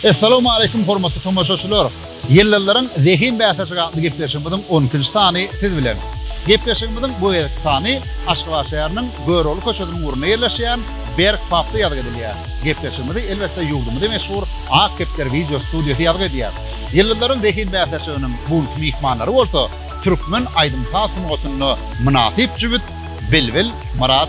Essalamu aleýkum hormatly tomaşaçylar. Ýyldyzlaryň zehin bäsleşigi atly gepleşigimiziň on ikinji sany siz bilen. Gepleşigimiziň bu gezekki sany Aşgabat şäheriniň Görogly köçesiniň ugrunda ýerleşýän Berk pubda ýazgy edilýär. Gepleşigimizi elbetde ýurdumyzy meşhur Ak kepder wideo studiýasy ýazgy edýär. Ýyldyzlaryň zehin bäsleşiginiň bu günki myhmanlary bolsa türkmen aýdym-saz sungatynda mynasyp jübüt Bilbil, Myrat,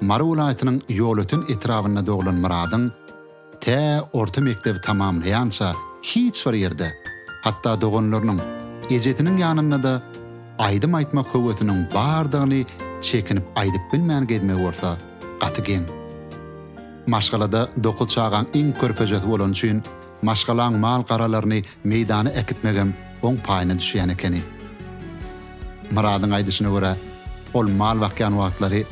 Mary welaýatynyň Ýolöten etrabynda doglan Myradyň tä orta mekdebi tamamlaýança hiç bir ýerde, hatda doganlarynyň, ejesiniň ýanynda-da aýdym aýtmak höwesiniň bardygyny çekinip aýdyp bilmän gezmegi bolsa gaty geň. Maşgalada dokuz çagaň iň körpejesi bolany üçin, Maşgalaň mal-garalaryny meýdana äkitmegem oň paýyna düşýän ekeni. Myradyň aýdyşyna görä, ol mal bakýan wagtlary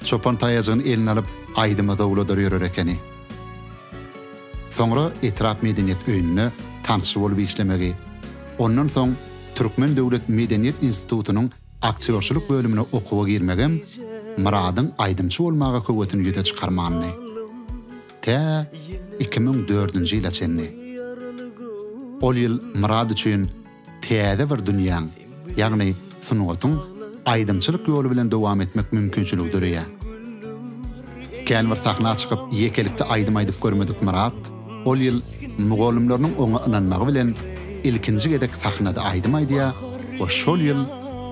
çopan taýajygyny eline alyp, aýdyma zowladar ýörer ekeni. Soňra etrap medeniýet öýünde tansçy bolup işlemegi, ondan soň Türkmen döwlet medeniýet institutynyň aktýorçylyk bölümine okuwa girmegem Myradyň aýdymçy bolmaga höwesini ýüze çykarmandy. tä iki müň dördünji ýyla çenli. Ol ýyl Murad üçin täze bir dünýäň, ýagny sungatyň aýdymçylyk ýoly bilen dowam etmek mümkinçiligi döreýär. Kän bir sahna çykyp ýekelikde aýdym aýdyp görmedik Murad ol ýyl mugallymlarynyň oňa ynanmagy bilen ilkinji gezek sahnada aýdym aýdýar we şol ýyl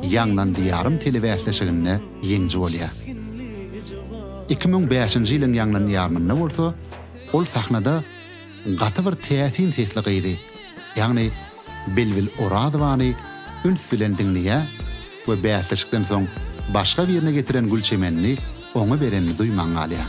Ýaňlan Diýarym telebäsleşiginde ýeňiji bolýar. Iki müň bäşinji ýylyň ýaňlan ýarymynda bolsa, ol sahnada gaty bir täsin sesli gyzy, ýagny Bilbil Orazowany üns bilen diňleýär we bäsleşikden soň başga birine getiren gülçemenini oňa berenini duýman galýar.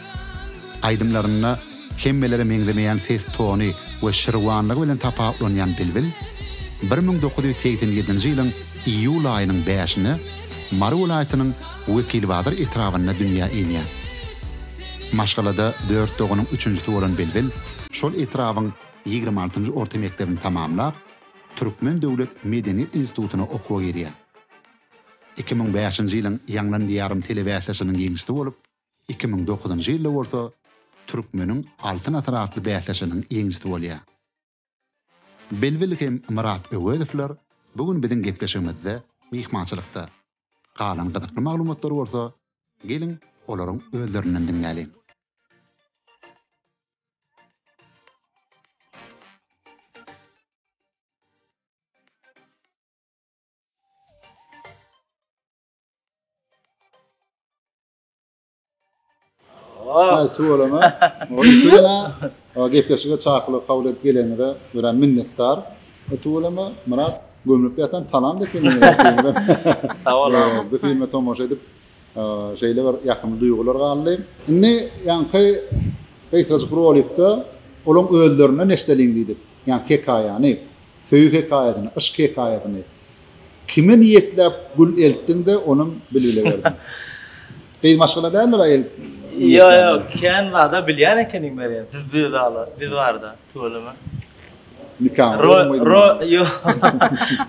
Aýdymlarynda hemmelere meňzemeýän ses tony we şirwanlygy bilen tapawutlanýan Bilbil bir müň dokuz ýüz segsen ýedinji ýylyň iýul aýynyň bäşinde Mary welaýatynyň Wekilbazar etrabynda dünýä inýär. Maşgalada dört doganyň üçünjisi bolan Bilbil, şol etrabyň ýigrimi altynjy orta mekdebini tamamlap, Türkmen döwlet medeniýet institutyna okuwa girýär. Iki müň bäşinji ýylyň Ýaňlan diýarym telebäsleşiginiň ýeňijisi bolup, Iki müň dokuzynjy ýylda bolsa Türkmeniň Altyn asyry atly bäsleşiginiň ýeňijisi bolýar. Bilbil hem Myrat Öwezowlar bu gün biziň gepleşigimizde myhmançylykda. Galan gyzykly maglumatlary bolsa geliň olaryň özlerinden diňläliň. Aýty bolana, bolana, gepleşige çakylyk kabul edip geleniňize örän minnetdar. Aýty bolana, Myrat, gömlüp ýatan talam dekeňiz. Sag bol. Bu filme tomaşa edip, şeýle bir ýakymly duýgular galdy. Indi ýaňky gysgajyk rolikde olaň özlerinden eşdeliň diýdik, ýa hekaýany. Söýgi hekaýasyny, yşk hekaýasyny kime niýetläp gül eltdiň-de, onam bilbile berdiň? Gyz maşgala däldir aýyl niýetlände. Ýok-ýok, kän zada bilýän ekeniň Merýem, siz bizalar, biz barada, tüweleme. Nikaňyz bolmaýdym. Ýok,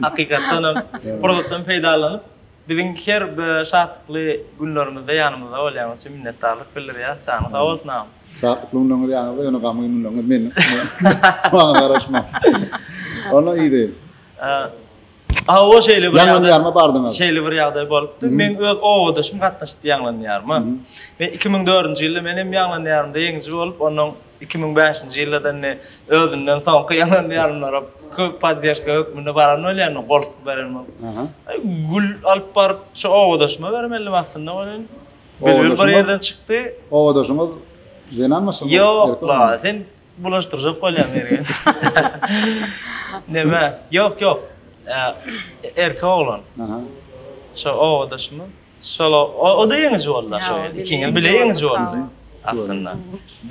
hakykatdanam, pursatdan peýdalanyp. Biziň her bir şatlykly günlerimizde ýanymyzda bolýaňyz üçin minnetdarlyk bildirýäs. Janyň sag bolsun agam. Şatlykly günleriňiz ýanyňyzda ýöne gamgyn günleriňiz meniň maňa garaşmaň. Onda ýeri. Hawa şeýle bir ýagdaýarma bardyňyz. Şeýle bir ýagdaý bolupdy. Men öz obadaşym gatnaşypdy ýaňlanýaryma. Men iki müň dördünji ýylda men hem ýaňlanýarymda ýeňiji bolup onuň Iki müň bäşinji ýylda-da indi özünden soňky ýalan-ýalanlara köp poddežka hökmünde baran bolýar, indi goltgy beren bolup. Gül alyp baryp şu obadaşyma bermeldim aslynda welin, bilbil bir ýerden çykdy. Obadaşyňyz zenanmy şol? Ýok-la, sen bulaşdyrjak bolýaň Mergen. Neme, ýok-ýok, erkek oglan. Şo obadaşymyz. Şol o-da ýeňiji boldy şo ýerde. Ikiňiz bile ýeňiji boldy. Aslynda.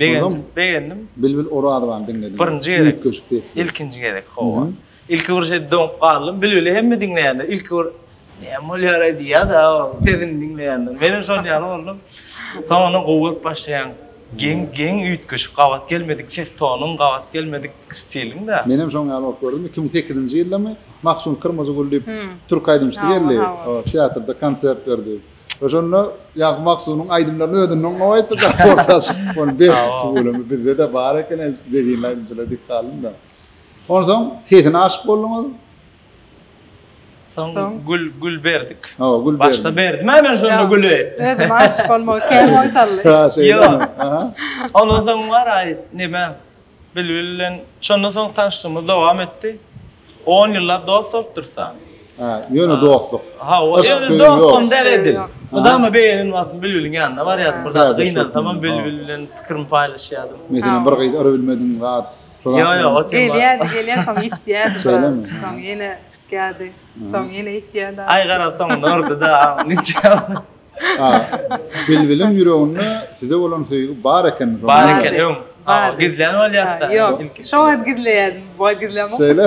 Begendim, begendim. Bilbil Orazowany diňledim. Birinji gezek. Üýtgeşik sesli. Ilkinji gezek, hawa. Ilki bir şeýdip doňup galdym. Bilbili hemme diňleýänler ilki bir näme bolýar-aý diýýär-de sesini diňleýänler. Menem şol ýaly boldum. Soňundan gowy görüp başlaýan. Geň, geň üýtgeşik, gabat gelmedik ses tonuň, gabat gelmedik stiliň-de. Menem şoň ýaly bolup gördüm. Iki müň sekizinji ýyldamy, Mahsun Kyrmyzygül diýip türk aýdymçysy geldi. Teatrda konsert berdi. Oşonda ýa Mahsunyň aýdymlaryny özünden gowy aýtdy da orta çykyp ony be tüweleme bizde-de bar eken zehinli aýdymçylar diýip galdym da. Onsoň sesine aşyk bolduňyz. Soň gül gül berdik. Hawa gül berdik. Başda berdim ha men şonda güli. Özüm aşyk bolmagy kän oýtaldy. Ýok. Ondan soň bar aýt neme Bilbil bilen şondan soň tanyşlygymyz dowam etdi. On ýyllap dost bolup dursan. Hä, ýöne dostluk. Ha, o ýöne dostum der edil. Mydama beýleden wagtym Bilbiliň ýanyna barýardym. Bir zat gynansamam Bilbil bilen pikirimi paýlaşýardym. Meselem, bir gyz urup bilmediň zat. Ýok, ýok, o tema. Gelýärdi, gelýär, soň ýitýärdi. Şeýlemi? Soň ýene çykýardy. Soň ýene ýitýärdi. Aý, gara, soňunda urdy-da. A, Bilbiliň ýüreginde size bolan söýgi bar ekenmi? Şonda Bar eken, öň. A, gizlän bolýar-da. Ýok, şo wagt gizleýärdim, bu wagt gizlemok. Şeýle?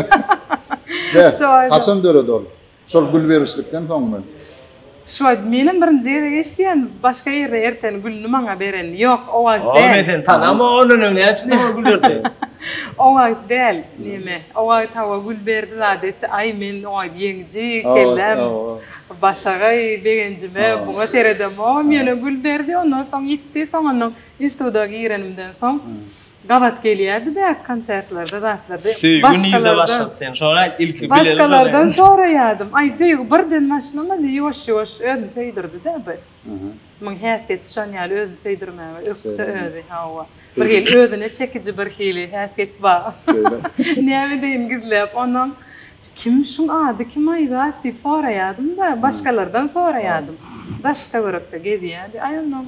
Bäh, haçan döredi ol? Şol gül berişlikden soňmy? Şu wagt menem birinji gezek eşidýän, başga ýerde erteni gülüni maňa berenini. Ýok, o wagt däl. O, men seni tanamok, ondan öň näçe sowal gül berdi? O wagt däl, näme, o wagt hawa gül berdi zat etdi, aý men o wagt ýeňji, kellem, Başagaý begenjime buňa seredemogam ýöne gül berdi ondan soň ýitdi soňandan instituda girenimden soň gabat gelýärdi bäk konsertlerde zatlarda başgalardan soraýadym aý söýgi birden başlamady ýuwaş ýuwaş özüni söýdürdi dä bir muň häsiýeti şon ýaly özüni söýdürmäge ökde özi hawa bir hili özüne çekiji bir hili häsiýet bar näme edeýin gizläp onam Kim şuň ady kim Aýzat diýip soraýadym-da, başgalardan soraýadym. Daştöwerekde gezýädi aýollam.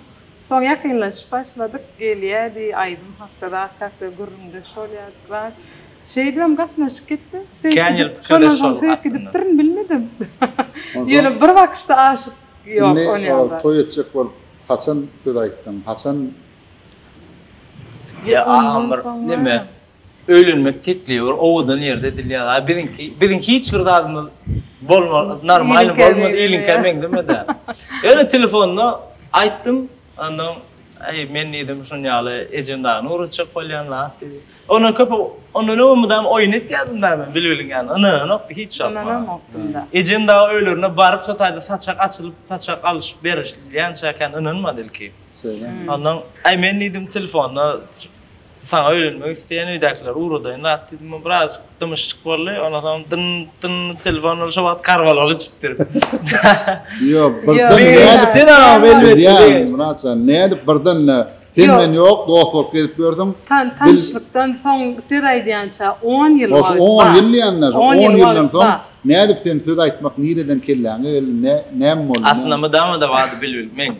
Soň ýakynlaşyp başladyk, gelýädi, aýdym hakda zat hakda gürrüňdeş bolýardyk zat. Şeýdibem gatnaşyk gitdi. Kän ýyl pikirdeş boldyk aslynda. Gidipdirin bilmedim. Ýöne bir bakyşda aşyk ýok ol ýagda. Indi toý etjek bolup haçan söz aýtdyň, haçan? Ýa agam bir neme Öýlenmek teklibi bir owadan ýerde edilýär. A biziňki, biziň hiç bir zadymyz bolmaz, normalny bolmaz, iliňkä meňzemez-ä. Ýöne telefonda aýtdym, ondan, Aý, men diýdim, şuny ýaly ejem dagyn ugratjak bolýan zat diýdi. Ondan köp, ondan öň mydama oýun etýärdim dagy men bilbiliň ýanyna, ynananokdy hiç wagt. Ynananokdym-da. Ejem dagy öýlerine baryp, şo taýda saçak açylyp, saçak alyşyp berilýänçäkän ynanmady ilki. Şeýlemi? Ondan, Aý, men diýdim, telefonda Saňa öýlenmek isleýän öýdäkiler ugradaýyn zat diýdim. Ol birazjyk dymyşjyk boldy. Ondan soň dyn, dyn telefon ol şo wagt Karbalaly çytdyr. Ýok, birden nädip? Sen agam elbetde. Ýa, Myrat jan, nädip birden-de sen bilen ýok, dost bolup gezip ýördüň. Tanyşlykdan soň söz aýdýança on ýyl wagt. Ol on ýyl diýende, şo on ýyldan soň nädip sen söz aýtmak nireden kelläňe geldi, näme boldy? Aslynda mydama-da bady bilbil, men.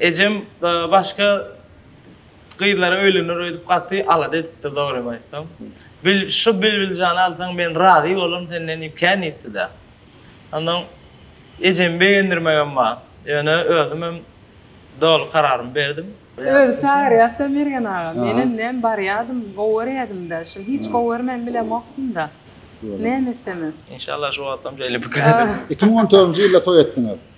Ejem başga gyzlara öýlener öýdüp gaty alada edipdir dogrymy aýtsam. Bil şu Bilbiljany alsaň men razy bolaryn senden diýip kän diýipdi-dä. Ondan ejemi begendirmegem bar. Ýöne özümem doly kararymy berdim. Özi çagyrýar-da Mergen aga. Menem näm barýardym, gowy görýädim-dä. Şul hiç gowy görmän bilemokdym-da. Näme etsemem. Inşallah şu wagtam şeýle pikir ederin. Iki müň on törünji ýylda toý etdiňiz.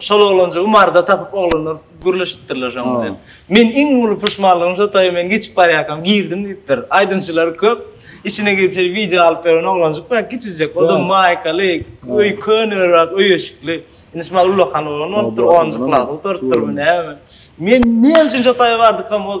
Şol oglanjygy marda tapyp oglanlar gürleşipdirler şoň bilen. Men iň uly puşmanlygym şo toýa men geçip barýarkam girdim diýipdir. Aýdymçylar köp. Içine girip şeýle wideo alyp beren oglanjyk bar, kiçijek. O da maýkaly, öý könerak, öý eşikli. Indi şu maly ulakan oglan bolupdyr, onunjy klasa oturypdyrmy näme. Men näme üçin şo toýa bardykam ol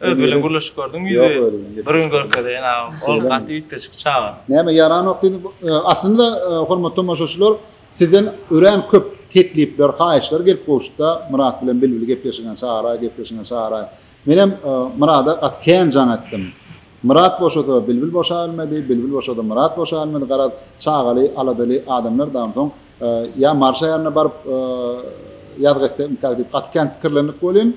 Öz bilen gürleşip gördüňmi ýüzi? Ýok özüm bilen. Bir gün görkezeýin agam. Ol gaty üýtgeşik çaga. Näme ýaranok diýdim. Aslynda hormatly tomaşaçylar sizden örän köp teklipler, haýyşlar gelip gowşuda Myrat bilen Bilbil gepleşigine çagaraý, gepleşigine çagaraý. Menem Myrada gaty kän jaň etdim. Myrat boşasa Bilbil boşa bilmedi, Bilbil boşasa Myrat boşa bilmedi. Garaz çagaly, aladaly adamlar dagy soň ýa Marşa ýanyna baryp ýazgy etsek mikäk diýip gaty kän pikirlendik welin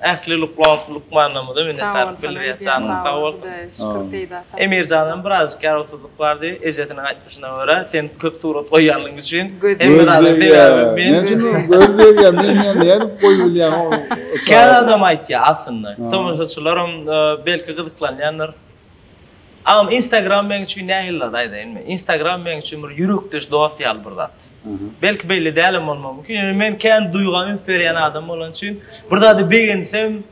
Ähli lukman lukmanlarymyza minnetdarlyk bildirýäs janyň sag bolsun. Şükür peýda tapyp. Emirjanam birazjyk ýarawsyzlyk bardy ejesiniň aýtmyşyna görä sen köp surat goýýanlygyň üçin hemme zada sebäbi men. Näme üçin onuň göz degýär men ýa nädip goýup bilýän ony. Kän adam aýtýar aslynda tomaşaçylaram belki gyzyklanýandyr. Agam instagram meň üçin nähili zat aýdaýynmy? Instagram meň üçin bir ýürekdeş dost ýaly bir zat. Belki belli dälem bolmagy mümkin, ýöne men kän duýga üns berýän adam bolan üçin bir zady begensem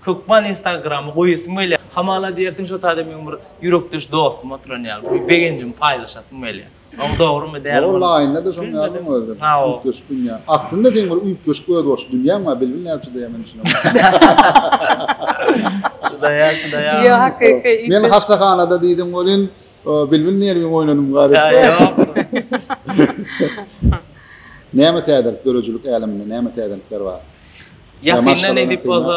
hökman instagrama goýasym gelýär. Hamala diýersiň şo taýda meň bir ýürekdeş dostum oturan ýaly bir begenjimi paýlaşasym gelýär. Oň dogrymy däl ol. Walla aýnada şoň ýalyň özüm. Üýtgeşik dünýä. Aslynda seň bir üýtgeşik özboluşly dünýäň bar bilbil näme üçin diýýän men düşünemok. Şudaýa şudaýa. Ýo hakyky üýtgeşik. Men hassahanada diýdim welin bilbil nerwiň oýnadym gary. Näme täzelik döredijilik äleminde näme täzelikler bar. Ýakynda nädip bolsa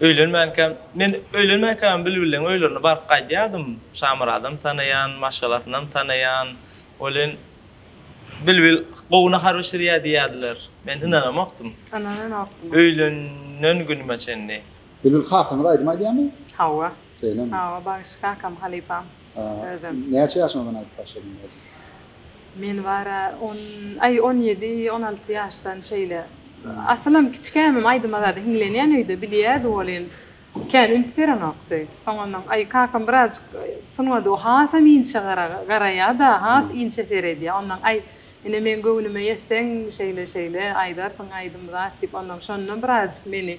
Öýlenmänkäm, men öýlenmänkäm Bilbilleň öýlerine baryp gaýdýardym. Şamuradam tanaýan, maşgalasynam tanaýan. Welin, Bilbil gowy nahar bişirýär diýýärdiler. Men ynanamokdym. Ynananokdyň. Öýlenen günüme çenli. Bilbil kakaňyz aýdym aýdýarmy? Hawa. Şeýlemi? Hawa, bagşy kakam, halypam, özem. Näçe ýaşyňyzdan aýdyp başladyň özüň? Men bar-a, on, aý, on ýedi, on alty ýaşdan şeýle. Asylam kiçikämem aýdyma zada hiňlenýän öýde, bilýärdi welin, kän üns berenokdy. Soňundan, aý, kakam birazjyk sungat, o hasam inçe garaýa-da, has inçe seredýär. Ondan, aý, ine, meň göwnüme ýetseň, şeýle-şeýle aýdarsyň aýdym zat diýip, ondan şondan birazjyk meni.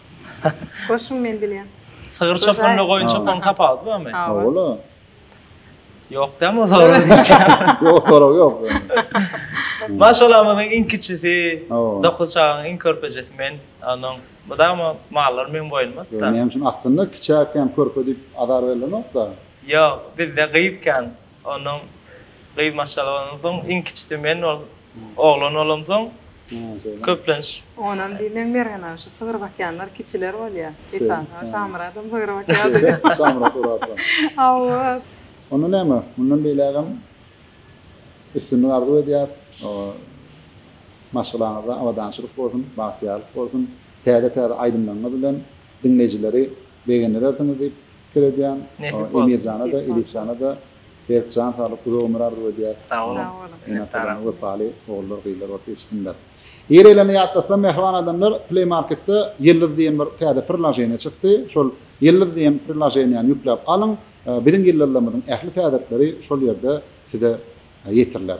Goşuň men bilýän. Sygyr çopan we goýun çopanyň tapawudy barmy? Hawa-la. Ýok däl bu sorag. Ýok sorag ýok. Maşgalamyzyň iň kiçisi, dokuz çagaň iň körpejesi men. Onuň bu dama mallary meň boýnumda. Näme üçin aslynda kiçäkkä hem körpe diýip azar berilenok-da. Ýok, bizde gyz kän. Ondan gyz maşgala bolandan soň iň kiçisi men ol oglan bolamsoň köplenç. Onam diýip men Mergenam şu sygyr bakýanlar kiçiler bolýa esasy Şamyradam sygyr bakýady. Şamyrat Orazow. Hawa. Onda näme mundan beýlägem üstünlik arzuw edýäs maşgalaňyzda abadançylyk bolsun bagtyýarlyk bolsun täze täze aýdymlaryňyz bilen diňleýjileri begendirersiňiz diýip Şükür edýän Emir jana-da, Elif jana-da berk jan saglyk, uzak ömür arzuw edýäs. Sag boluň. Ene atalaryna wepaly ogullar, gyzlar bolup ýetişsinler. Gireýlerini ýatlatsam mähriban adamlar, Play Marketde Ýyldyz diýen bir täze prilaženiýe çykdy. Şol Ýyldyz diýen prilaženiýäni ýükläp alyň. Biziň ýyldyzlarymyzyň ähli täzelikleri şol ýerde size ýetiriler.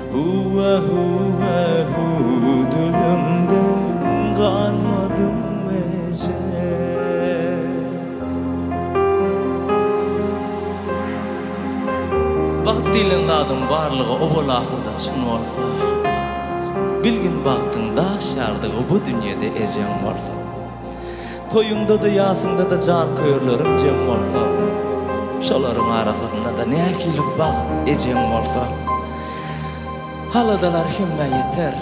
Hüwwä hüwwä hüw diliňden galmadym mejez. Bagt diýlen zadyň barlygy owal ahyrda çyn bolsa, bilgin bagtyň daş ýardygy bu dünýede ejeň bolsa. Toýuňda-da, ýasyňda-da janköýerleriň jem bolsa, şolaryň arasynda-da nähili bagt ejeň bolsa, aladalar hemmä ýeter.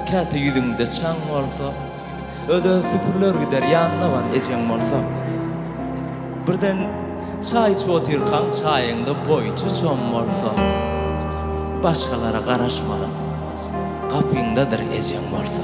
Käte ýüzüňde çaň bolsa, öz-ä süpüriler gider, ýanyna bar ejeň bolsa. Birden çaý içip otyrkaň, çaýyňda boýçy çom bolsa, başgalara garaşmalyň, gapyňdadyr ejeň bolsa.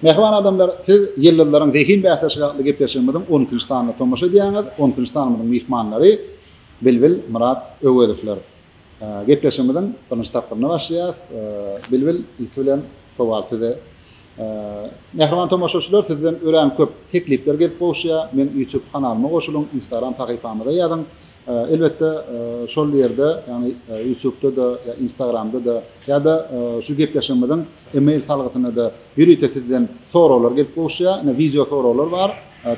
Mähriban adamlar, siz ýyldyzlaryň zehin bäsleşigi atly gepleşigimiziň 10 nji sanyna tomaşa edýäňiz. 10 nji sanymyzyň myhmanlary Bilbil, Myrat Öwezowlar. Gepleşigimiziň birinji tapgyryna başlaýarys. Bilbil, ilki bilen sowal size. Mähriban tomaşaçylar sizden örän köp teklipler gelip gowuşýa, men YouTube kanalyma goşulyň, Instagram sahypamyza ýazyň. Elbetde şol ýerde ýagny YouTubeda-da ýa Instagramda-da ýa-da şu gepleşigimiziň email salgysyna-da ýörite sizden soraglar gelip gowuşýa. Ine wideo soraglar bar.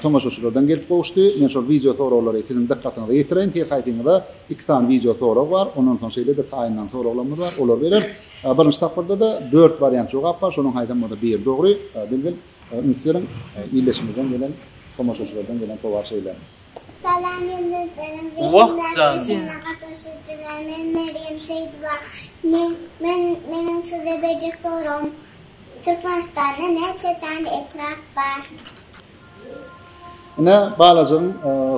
Tomaşaçylardan gelip gowuşdy. Men şol wideo soraglary siziň dykgatyňyza ýetireýin. Her haýsyňyza iki sany wideo sorag bar. Ondan soň şeýle-de taýyndan soraglarymyz bar. Olary bereris. Birinji tapgyrda-da dört wariant jogap bar, şonuň haýsam bolsa biri dogry. Bilbil, üns beriň, illeşimizden gelen, tomaşaçylardan gelen sowal şeýle. Salam ýyldyzlaryň zehindaş işine gatnaşyjylar, men Merýem Seýdowa. Men, men, meniň size berjek soragym, Türkmenistanda näçe sany etrap bar? Ine, balajygyň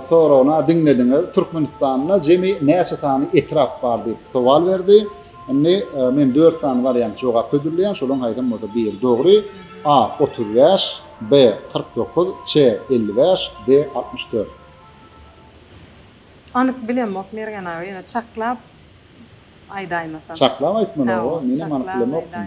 soragyny-a diňlediňiz. Türkmenistanda jemi näçe sany etrap bar diýip sowal berdi. Indi men dört sany wariant jogap hödürleýän. Şolaryň haýsam bolsa biri dogry. A. Otuz bäş, B. Kyrk dokuz, C. Elli bäş, D. Altmyş dört. Anyk bilemok Mergen aga, ýöne çaklap aýdaýmasam. Çaklap aýtmaly, oba, menem anyk bilemokdym.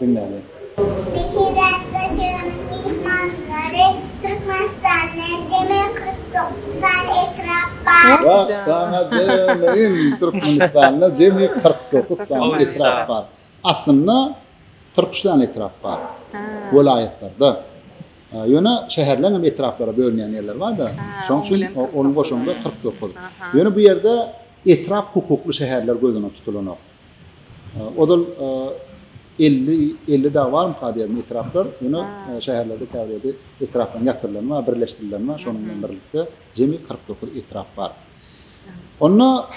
Diňläliň. Beýik bäsleşiginiň myhmanlary Türkmenistanda jemi kyrk dokuz sany etrap bar. Wah, saňa jemleýin! Türkmenistanda jemi kyrk dokuz sany etrap bar. Aslynda, kyrk üç sany etrap bar. Welaýatlarda. Ýöne şäherleň hem etraplara bölünýän ýerleri bar-da. Şonuň üçin onuň goşandy kyrk dokuz. Ýöne bu ýerde etrap hukukly şäherler göz öňünde tutulanok. Ozal elli, elli dagy barmyka diýýärdim etraplar. Ýöne şäherlerde käbir ýerde etraplaryň ýatyrylany bar, birleşdirileni bar. Şonuň bilen birlikde jemi kyrk dokuz etrap bar. Onda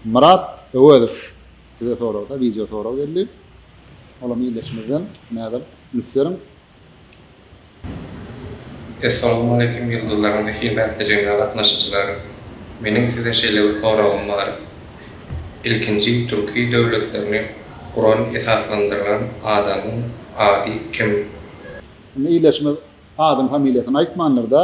Myrat Öwezow bize soragda wideo sorag geldi. Olam ýerleşmezden näzir üns beriň. Essalowmaleýkim ýyldyzlaryň zehin bäsleşigine gatnaşyjylar! Meniň size şeýle bir soragym bar. Ilkinji türki döwletlerini guran esaslandyrylan adamyň ady kim? Indi ildeşimiz adyny familiýasyny aýtmandyr da.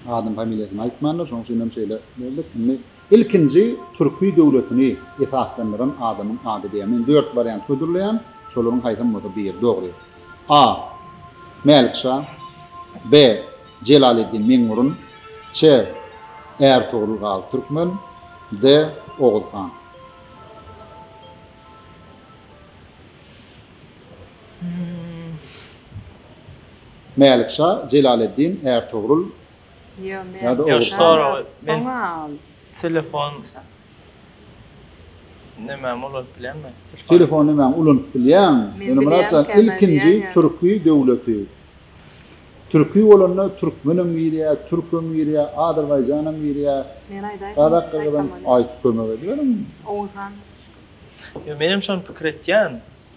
Adyny familiýasyny aýtmandyr şoň üçinem şeýle böldük. Indi Ilkinji türki döwletini esaslandyran adamyň ady diýýär. Men dört wariant hödürleýän, şolaryň haýsam bolsa biri dogry. A. Mälikşa. B. Jelaleddin Meňňurun. Ç. Ärtogrul Gazy Türkmen. D. Oguz han. Mälikşa, Jelaleddin, Ärtogrul, Ýa-da ogry soraly. Telefon nämämi ulanyp bilýän men? Telefon nämämi ulanyp bilýän? Ýöne Myrat jan ilkinji türki döwleti. Türki bolanda türkmenem girýä, türkem girýä, azerbaýjanam girýä. Men aýdaýyn. Gazak gyzym aýt kömek ederiň. Oguzhan. Ýa menem şony pikir etýän.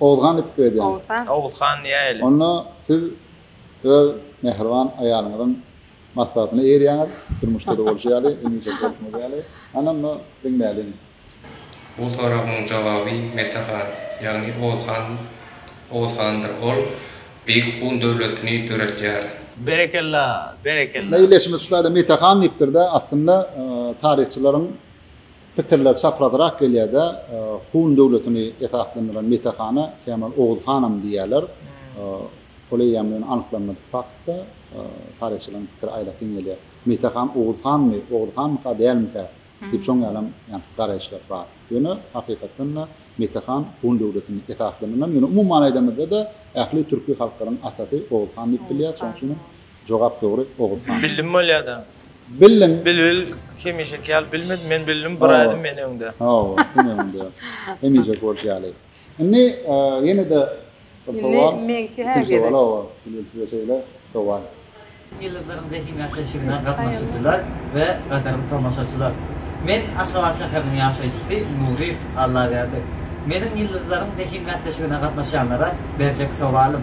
Oguzhan diýip pikir edýän. Oguzhan. Oguzhan diýäýeli. Onda siz öz mähriban aýalyňyzyň maslahatyna eýerýäňiz, durmuşda-da bolşy ýaly, hemişe bolşuňyz ýaly. Hany onda diňläliň. Bu soragyň jogaby Mete han, ýagny Oguzhan Oguzhandyr. Ol Beýik Hun döwletini döretýär. Berekella! Berekella! Munda illeşmesi şulardy, Mete han diýipdir-de, aslynda taryhçylaryň. Pikirler çaprazrak gelýärde Hun döwletini esaslandyran Mete hana kämil Oguz hanam diýýärler. Ol eýýäm ýöne anyklanmadyk faktda. Taryhçylaryň pikiri aýratyn gelýär. Mete han Oguz hanmy, Oguz hanmyka, dälmikä diýip şoň ýalam ýaňky garaýyşlar bar. Ýöne hakykatdanda Mete han Hun döwletini esaslandyran, ýöne umuman aýdamyzda-da ähli türki halklaryň atasy Oguz han diýip bilýär. Şoň üçinem Jogap dogry Oguzhan. Bildim bolýada. Bildim. Bilbil hemişeki ýaly bilmedi men bildim bir aýdym men öňde. Hawa kim öňde. Hemişeki bolşy ýaly. Indi ýene-de bir sowal. Meňki hä gerek. Bilbil size şeýle sowal. Ýyldyzyň zehin ätleşigine gatnaşyjylar we gadyrly tomaşaçylar. Men Aşgabat şäheriniň ýaşaýjysy Nuryýew Allaberdi. Meniň Ýyldyzlaryň zehin bäsleşigine gatnaşýanlara berjek sowalym.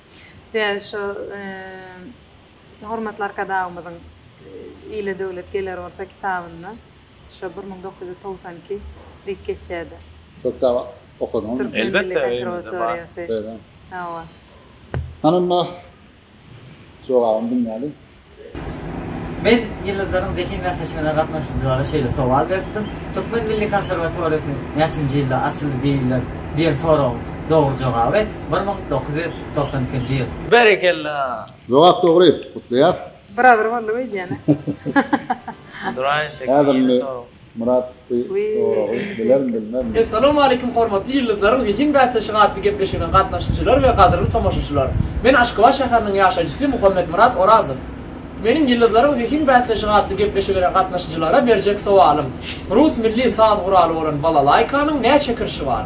Ýa şo hormatly Arkadagymyzyň Ile döwlet geler bolsa kitabynda şo bir müň dokuz ýüz togsan iki diýip geçýärdi. Şo kitaby okadyňyzmy? Türkmen milli konserwatoriýasy. Hawa. Hany onda jogabyny diňläliň. Men Ýyldyzlaryň zehin bäsleşigine gatnaşyjylara şeýle sowal beripdim, Türkmen milli konserwatoriýasy näçinji ýylda açyldy diýilýär? diýen soragyň dogry jogaby bir müň dokuz ýüz togsan ikinji ýyl. Berekella! Jogap dogry, gutlaýas. Biradyr boldyk öýdýäne. Duraýyn, tekmil ýene sorag. Myrat bu soragy bilerin bilmezin. Essalamu aleýkum hormatly ýyldyzlaryň zehin bäsleşigi atly gepleşigine gatnaşyjylar we gadyrly tomaşaçylar. Men Aşgabat şäheriniň ýaşaýjysy Muhammetmyrat Orazow. Meniň ýyldyzlaryň zehin bäsleşigi atly gepleşigine gatnaşyjylara berjek sowalym, rus milli saz guraly bolan balalaýkanyň näçe kirşi bar?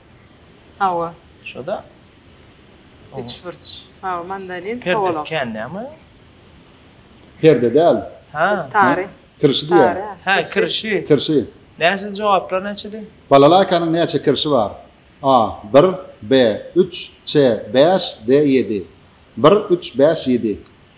Hawa. Şoda. Üçburç. Hawa, mandalin, kowalak. Perdesi kän näme? Perde däl. Ha. Tary. Kirşi diýýär. Ha, kirşi. Kirşi. Näçe jogaplar näçedi? Balalaýkanyň näçe kirşi bar? A. Bir, B. Üç, C. Bäş, D. Ýedi. Bir, üç, bäş, ýedi.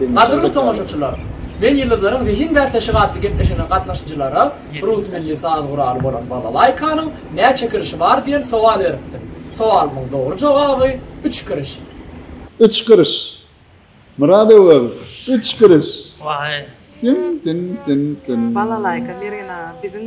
Gadyrly tomaşaçylar! Men Ýyldyzlaryň zehin bäsleşigi atly gepleşigine gatnaşyjylara rus milli saz guraly bolan balalaýkanyň näçe kirişi bar diýen sowal beripdim. Sowalymyň dogry jogaby, üç kiriş. Üç kiriş! Myrat Öwezow, üç kiriş! Diň-diň-diň-diň! Balalaýka Mergen aga biziň.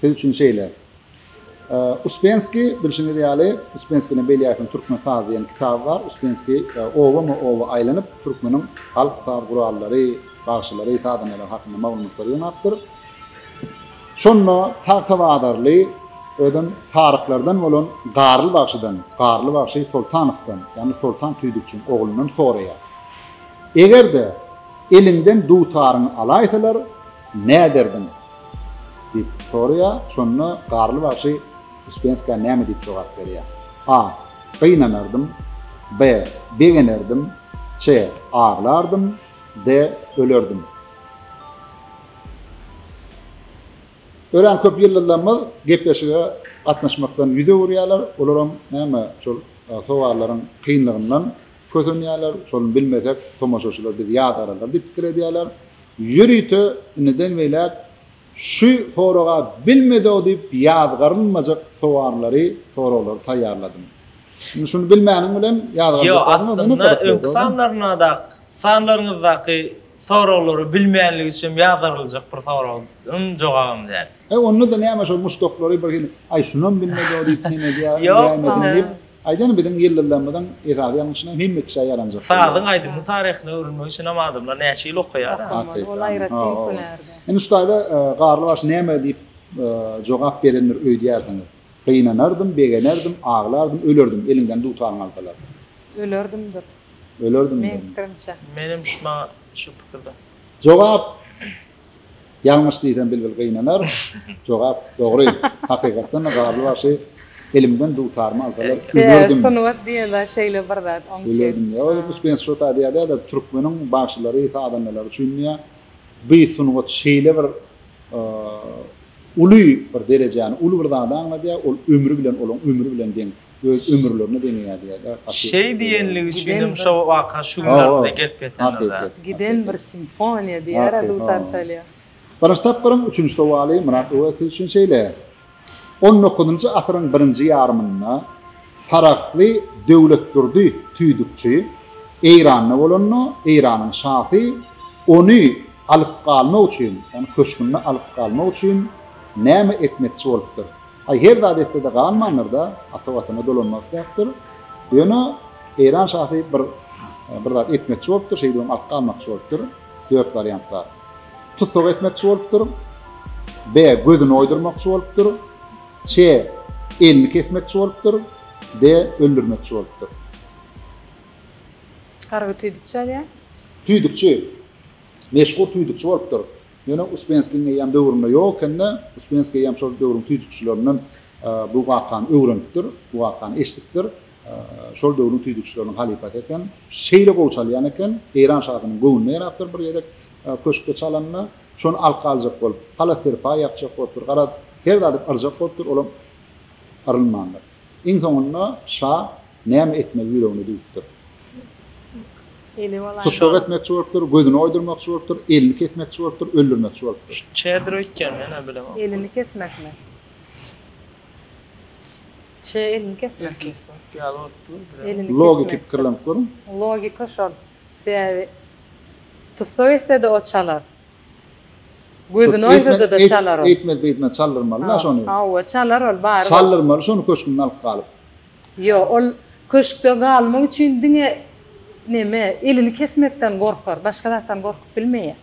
Siz üçin şeýle. Uspenskiý, bilşiňiz ýaly, Uspenskini belýärsiň, Türkmen sazy diýen kitaby bar. Uspenskiý obama-oba aýlanyp, türkmeniň halk saz gurallary, bagşylary, sazandalar hakynda maglumatlary ýygnapdyr. Şonda tagtabazarly, özem saryklardan bolan Garly bagşydan, Garly bagşy Soltanowdan, ýagny Soltan tüýdükçiň oglundan soraýar. Eger-de eliňden dutaryňy alaýsalar, Näderdiň? diýip soraýar. Şonda Garly bagşy Uspenska näme diýip jogap berýär? A. Gynanardym. B. Begenerdim. C. Aglardym. D. Ölerdim. Örän köp ýyldyzlarymyz gepleşige gatnaşmakdan ýüz öwürýärler. Olaram näme, şol sowallaryň kynlygyndan kösenýärler. Şony bilmesek, tomaşaçylar bizi ýazgararlar diýip pikir edýärler. Ýörite indiden beýläk şu soraga bilmedo diýip ýazgarynmajak sowallary, soraglary taýýarladym. Indi şuny bilmäniň bilen ýazgarjaklaryň özüne gyzykly bolýar. Ýo, aslynda öňki sanlaryndaky, sanlaryňyzdaky soraglary bilmänlik üçin ýazgaryljak bir soragyň jogabyny däl. Onda-da näme şol muşdaklary birhili, aý şunam bilmedo diýip, näme edýärin, näme edin diýip, Aýdan biziň ýyldyzlarymyzyň esasy ýalňyşyna hemme kişä ýaranjak bolýar. Sazyň aýdymyň taryhyna öwrülmegi üçin hem adamlar näçe ýyl okaýar-a? Okamaly, ol aýratyn hünär-de. Indi şu taýda Garlybaş näme diýip jogap berendir öýdýärsiňiz? Gynanardym, begenerdim, aglardym, ölerdim, eliňden dutaryňy alsalar. Ölerdimdir. Ölerdimdir. Meň pikirimçe. Menem şu maňa şu pikirde. Jogap, Ýalňyş diýsem bilbil gynanar. Jogap dogry. Hakykatdan-da Garly bagşy elimden dutarmy alsalar gülerdim. Sungat diýen zat şeýle bir zat. Oň üçin. Gülerdim diýýär. Ol Yunus Bens şo taýda ýazýar-da, türkmeniň bagşylary, sazandalary üçin diýýär, bu sungat şeýle bir uly bir derejäni, uly bir zady aňladýar, ol ömri bilen, olaň ömri bilen deň. öz ömürlerine deňeýärdi ýa da gaty Şeý diýenligi üçinem şo waka şu gün arada gelip ýetendir-dä. Giden bir simfoniýa diýer-ä dutar çalýar. Birinji tapgyryň üçünji sowaly Myrat uga siz üçin şeýle. On dokuzynjy asyryň birinji ýarymynda sarahsly Döwletdurdy tüýdükçi Eýranda bolanda Eýranyň şasy ony alyp galmak üçin, ýagny köşgünde alyp galmak üçin näme etmekçi bolupdyr? Aý her zat etsede galmandyr-da, ata watana dolanmak isläpdir. Ýöne Eýran şasy bir bir zat etmekçi bolupdyr, şeýdibem artga almakçy bolupdyr. Dört wariant bar. Tussag etmekçi bolupdyr. B. Gözüni oýdurmakçy bolupdyr. C. Elini kesmekçi bolupdyr. D. Öldürmekçi bolupdyr. Harby tüýdükçi ýazýar. Tüýdükçi. Meşhur tüýdükçi bolupdyr. Ýöne Uspenskiň eýýäm döwründe ýok eken-de, Uspenskiý eýýäm şol döwrüň tüýdükçilerinden bu wakany öwrenipdir, bu wakany eşidipdir. Şol döwrüň tüýdükçileriniň halypasy eken. Şeýle gowy çalýan eken, Eýran şasynyň göwnüne ýarapdyr bir gezek köşkde çalanyna. Şony alka aljak bolup, halas-serpaý ýapjak bolupdyr. Garaz, her zady yrjak bolupdyr, olam yrylmandyr. Iň soňunda şa näme etmegi ýüregine düwüpdir. Eli bolaýsa. Tussag etmekçi bolupdyr, gözüni oýdurmakçy bolupdyr, elini kesmekçi bolupdyr, öldürmekçi bolupdyr. Çedir öýtgen men-ä bilemok. Elini kesmekmi? Çe elini kesmek. El kesmek ýaly bolup dur bilemok. Elini kesmek. Logiki pikirlenip görüň. Logika şol. Sebäbi tussag etse-de o çalar. Gözüni oýsada-da çalar ol. Eýtmez, beýtmez, çaldyrmaly-da şony. Hawa, çalar ol, baryp. Çaldyrmaly şony köşgünden alyp galyp. Ýok, ol köşkde galmak üçin diňe neme, elini kesmekden gorkar, başga zatdan gorkup bilmeýär.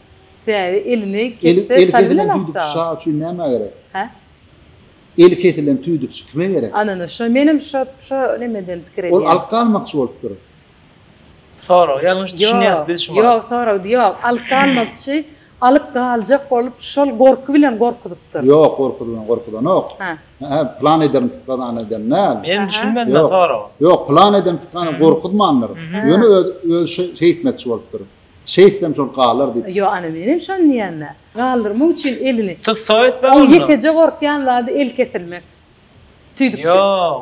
Sebäbi elini kesse çal bilenok-da. Eli kesilen tüýdükçi şa üçin nämä gerek? Hä? Eli kesilen tüýdükçi kime gerek? Anana, şo, menem şo, şo nemeden pikir edýän. Ol alyp galmakçy bolupdyr. Sorag ýalňyş düşünýäs biz şumaň. Ýok soragdy ýok alyp galmakçy alyp galjak bolup şol gorky bilen gorkuzypdyr. Ýok gorky bilen gorkudanok. Hä. Hä plan ederin psgazan eden däl. Men düşünmedim men soraga. Ýok plan eden psgazan gorkuzmandyr. Ýöne öz öz şeýtmekçi bolupdyr. Şeýtsem şol galar diýip. Ýok ana men hem şony diýenna. Galdyrmak üçin elini. Tyssaw etmeli onda. Ol ýekeje gorkýan zady el kesilmek. Tüýdükçe. Ýok.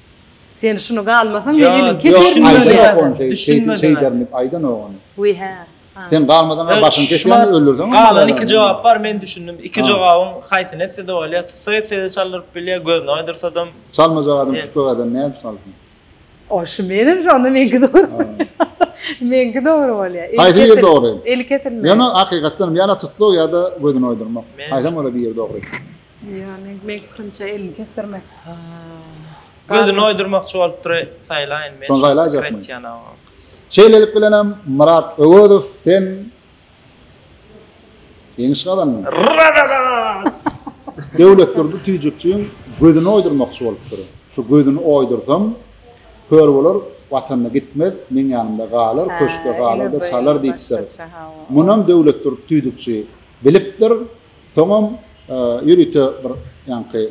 Sen şuny galmasaň men elin keserin diýýär. Aýdan ýok ony şeýdin şeýderin diýip aýdan ýok ony. We hä. Sen galmasaň a başyny kesýän we öldürseň. Galan iki jogap bar men düşündim iki jogabyň haýsyny etsede bolýar tutsa etsede çaldyryp bilýär gözüni oýdursadam. Çalmajak adam tutsa adam nädip çalsyn. O şu menem şonda meňki dogry. Meňki dogry bolýar. Haýsy biri dogry. Eli kesilmeli. Ýöne hakykatdanam ýa-da tutsak ýa-da gözüni oýdurmak. Haýsam ola biri dogry. Ýagny mekrinçe elini kesdirmek. Gözüni oýdurmakçy bolupdyr saýlaýyn men. Şony saýlaýjakmy? Şeýlelik bilen hem Myrat Öwezow sen ýeňiş gazandyň. Döwletdurdy tüýjükçiň gözüni oýdurmakçy bolupdyr. Şu gözüni oýdursam, kör bolar, watanyna gitmez, meň ýanymda galar, köşkde galar-da çalar diýipdir. Munam Döwletdurdy tüýjükçi bilipdir. Soňam ýörite bir ýaňky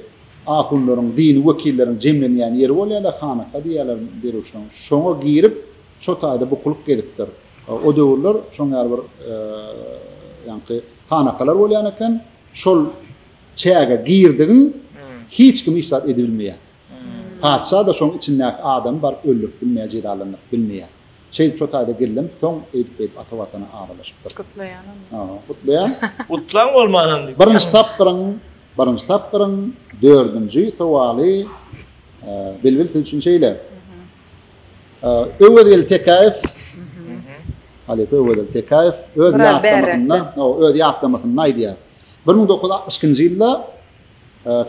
ahunlaryň, dini wekilleriň jemlenýän ýeri bolýar-da, hanaka diýýärler derwüşleriň. Şoňa girip, şo taýda bukulyp gezipdir. O döwürler şoň ýaly bir ýaňky hanakalar bolýan eken. Şol çäge girdigiň hiç kim hiç zat edibilmeýär. Patyşa-da şoň içindäki adamy baryp öldürip bilmeýär, jezalanyp bilmeýär. Çeýip şo taýda geldim, soň eýdip-beýdip ata Watana aralaşypdyr. Gutlaýan onda. Hawa, gutlaýan. Gutlaň bolmanam diýip. Birinji tapgyryň, birinji tapgyryň dördünji sowaly Bilbil siz üçin şeýle. Öwezgeli Tekäýew, halypa Öwezgeli Tekäýew öz ýatlamasynda, o öz ýatlamasynda aýdýar. 1962-nji ýylda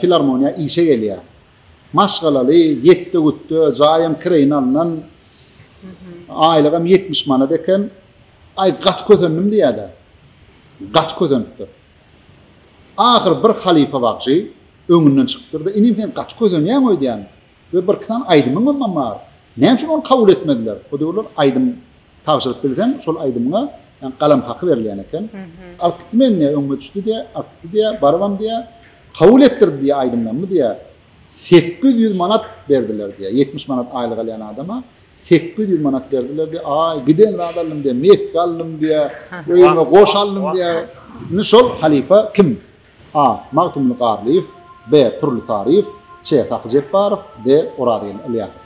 filarmoniýa işe gelýär. Maşgalaly, ýetde-gütde, jaýam kireýine alnan. Aýlygam ýetmiş manat eken. Aý, gaty kösendim diýýär-dä. Gaty kösenipdir. Ahyry bir halypa bagşy öňünden çykypdyr-da, Inim, sen gaty kösenýäň öýdýän we birki sany aýdymyňam bar. Näme üçin ony kabul etmediler? O döwürler aýdym Tabşyryp bilseň şol aýdymyňa ýa galam haky berilýän eken. Alyp gitdi meni diýýär, öňüme düşdi diýýär, alyp gitdi diýýär, barybam diýýär, kabul etdirdi diýýär aýdymlarymy diýýär. Sekiz ýüz manat berdiler diýýär, ýetmiş manat aýlyk alýan adama sekiz ýüz manat berdiler diýýär. Aý, giden zat aldym diýýär, meski aldym diýýär, öýüme goş aldym diýýär. Indi şol halypa kim? A. Magtymguly Garlyýew B. Pürli Saryýew Ç. Sahy Jepbarow D. Orazgeldi Ylýasow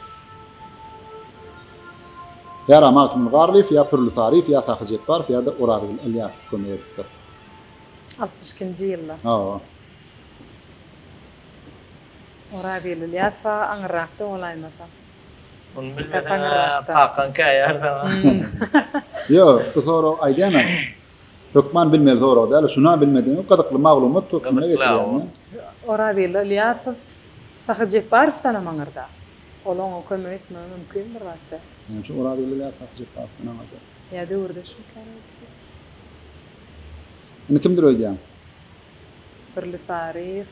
Ýara Magtymguly Garlyýew ýa Pürli Saryýew ýa Sahy Jepbarow ýa-da Orazgeldi Ylýasow kömek edipdir. Altmyş ikinji ýylda. Hawa. Orazgeldi Ylýasow aga aňyrrakda bolaýmasa. Muny bilmeseň-ä kakaň käýärdi aňa. Ýok, bu sorag aýdýan-a. Hökman bilmeli sorag däl, şuna bilmedigiňi gyzykly maglumat hökmünde getirýäňmi? Orazyly Ylýasow Sahy Jepbarowdan hem aňyrda. Ol oňa kömek etmegi mümkin bir wagtda. Näme üçin Orazyly Ylýasow Sahy Jepbarowdan aňyrda? Ýa döwürdeşmikä nädip? Indi kimdir öýdýäň? Pirli Saryýew,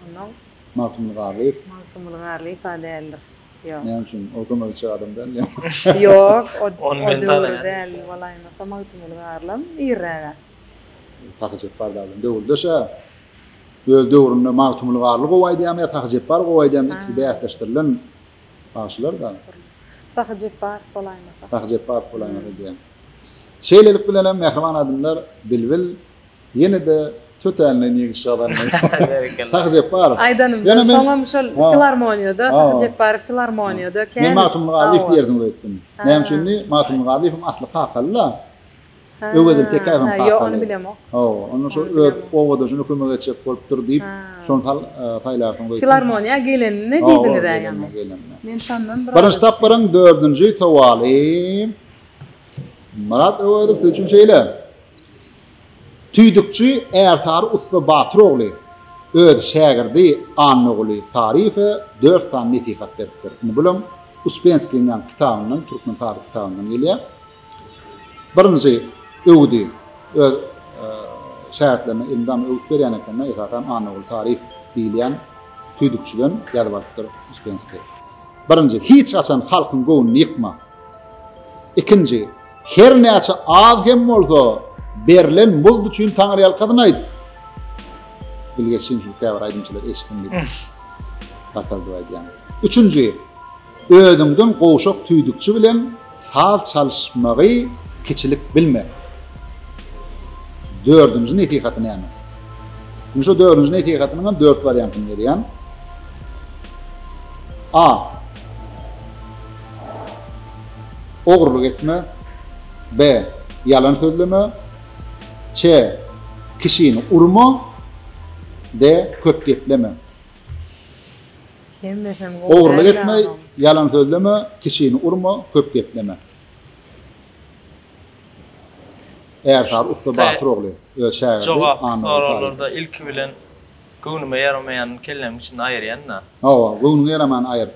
onnoň. Magtymguly Garlyýew. Magtymguly Garlyýew-a däldir. Ýok. Näme üçin? O kömekçi adam däl ýa? Ýok, o Ony men tanayaryn. däl bolaýmasa Magtymguly Garlam irräge. Sahy Jepbar däl ol. Döwürdeş-ä. Öz döwründe Magtymguly Garly gowy aýdýarmy ýa Sahy Jepbar gowy aýdýarmy ikisi bäsleşdirilen bagşylar-da. Sahy Jepbarow bolaýmasa. Sahy Jepbarow bolaýmasa diýýä. Şeýlelik bilenem mähriban adymlar Bilbil Ýene-de tötänden ýeňiş gazandy. Berekella. Sahy Jepbarow. Aýdanymda soňam şol filarmoniýada, Sahy Jepbarow filarmoniýada kän. Men Magtymguly Garlyýew diýersiňiz öýtdüm. Näme üçin diý, Magtymguly Garlyýewiň asly kakaly-da. Öwezeli Tekäýew hem kakaly. Ýok, ony bilemok. Hawa, onda şo öz obadaşyna kömek etjek bolupdyr diýip, şony sal saýlarsyňyz öýtdüm. Filarmoniýa gelenini diýdiňiz-ä ýaňy. Men şondan biraz. Birinji tapgyryň dördünji sowaly. Myrat Öwezow siz üçin şeýle. Tüýdükçi Ärsary ussa Batyr ogly öz şägirdi Annaguly Saryýewe dört sany nesihat beripdir. Indi bulam Uspenskiýiň ýaňky kitabyndan, Türkmen taryhy kitabyndan gelýär. Birinji öwüdi öz şägirtlerine elmydama öwüt berýän eken-de, esasanam Annaguly Saryýew diýilýän tüýdükçiden ýazyp alypdyr Uspenskiý. Birinji, hiç haçan halkyň göwnüni ýykma. Ikinji, Her näçe az hem bolsa berlen muzd üçin Taňryýalkasyn aýt. Bilgeşin şu käbir aýdymçylar eşitdim diýip. Gataldyp aýdýan. Üçünji, özüňden gowşak tüýdükçi bilen saz çalyşmagy kiçilik bilme. Dördünji nesihaty näme? Indi şu dördünji nesihatynyň hem dört wariantyny berýän. A. Ogurlyk etme. Be. Ýalan sözleme. Çe. Kişini urma. De. Köp gepleme. Ogurlyk etme, ýalan sözleme, kişini urma, köp gepleme. Ärsary ussa Batyr ogly öz şägirdi Jogap soraglarda ilki bilen göwnüme ýaramaýanyny kellemiň içinde aýyrýan-da. Hawa, göwnüňe ýaramaýany aýyr.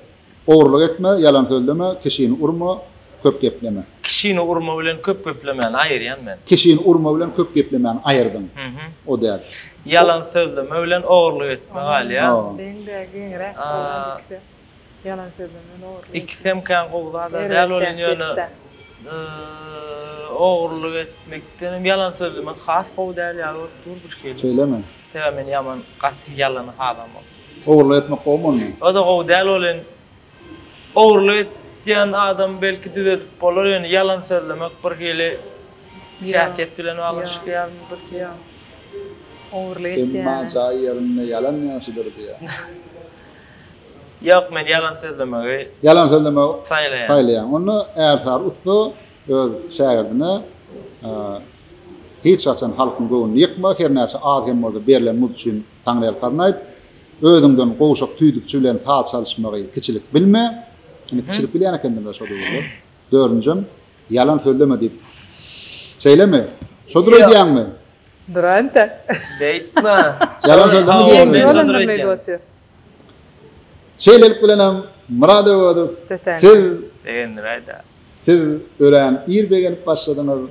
Ogurlyk etme, ýalan sözleme, kişini urma, köp gepleme. Kişini urma bilen köp geplemäni aýyrýan men. Kişini urma bilen köp geplemäni aýyrdyň. O däl. Ýalan sözleme bilen ogurlyk etme galýar. Ýalan deň däl, giňräk bolýar ikisem. Ýalan sözleme bilen ogurlyk etme. Ikisem kän gowy zada däl welin ýöne ogurlyk etmekden hem ýalan sözlemek has gowy däl ýaly bolup dur birhili. Şeýlemi? Sebäbi men ýaman gaty ýalany halamok. Ogurlyk etmek gowy bolmy? Oda gowy däl welin ogurlyk etýän adamy belki düzedip bolar ýöne ýalan sözlemek bir hili häsiýet bilen baglanyşykly ýaly durdy ýa ogurlyk etýän. Emma jaý ýerinde ýalan ýagşydyr diýýä. Ýok men ýalan sözlemegi Ýalan sözlemegi saýlaýan. saýlaýan. Onda Ärsary ussa öz şägirdine hiç haçan halkyň göwnüni ýykma, hernäçe az hem bolsa berlen muz üçin Taňryýalkazyny aýt. Özüňden gowşak tüýdükçi bilen saz çalyşmagy kiçilik bilme. Indi kiçilik bilýän ekendim-le şo döwürler. Dördünjem, ýalan sözleme diýip. Şeýlemi? Şodur öýdýäňmi? Durante. Beýtme. Ýalan sözleme diýýäňmi? Şeýlelik bilenem, Myrat Öwezow, siz. Begendiräý-dä. Siz örän ir begenip başladyňyz.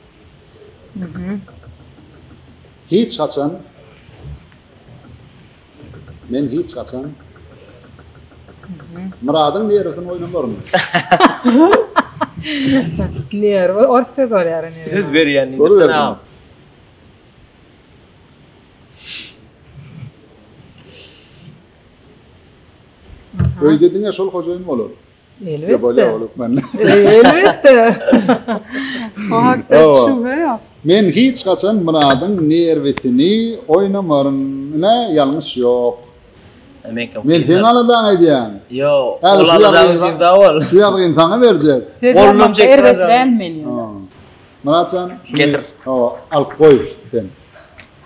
Hiç haçan Men hiç haçan Myradyň nerwsini oýnamaryn. Nerw ors söz bolýar indi. Söz berýän diýdim men agam. Öýde diňe şol hojaýyn bolar. Elbetde. Elbetde. O hakda şübhe ýok. Men hiç haçan Myradyň nerwisini oýnamaryn. Ine, ýalňyş ýok. Men seň aladaň edýän. Ýok. Ol aladaň üçin sag bol. Şu ýazgyny saňa berjek. Bolunjak erbet dälmi? Myrat jan, şuny getir. Hawa, alyp goý sen.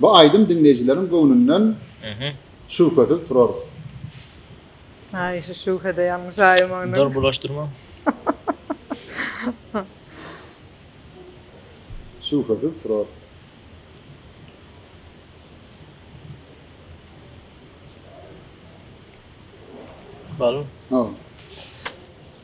Bu aýdym diňleýjileriň göwnünden şübhesiz turar. Aý şu şübhede ýalňyş aýy maňňa. Dur bulaşdyrma. Şübhesiz turar. Bal. Ha.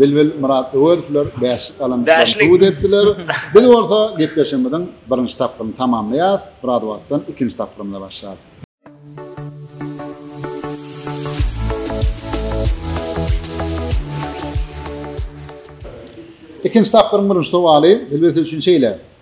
Bilbil, Myrat Öwezowlar bäşlik alandyklaryny subut etdiler. Biz bolsa gepleşigimiziň birinji tapgyryny tamamlaýarys, biraz wagtdan ikinji tapgyrymyza başlarys. Ikinji tapgyryň birinji sowaly Bilbil siz üçin şeýle,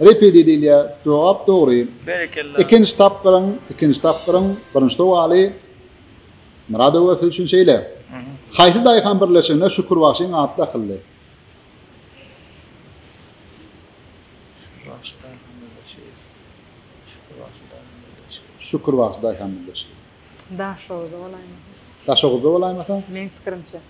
Repedi diýilýä jogap dogry. Berekella. Ikinji tapgyryň ikinji tapgyryň birinji sowaly Myradowa siz üçin şeýle. Haýsy daýhan birleşigine Şükür bagşyň ady dakyldy? Şükür bagşy daýhan birleşigi. Şükür bagşy daýhan birleşigi. Şükür bagşy daýhan birleşigi. Daşoguzda bolaýmasa. Daşoguzda bolaýmasa? Meň pikirimçe.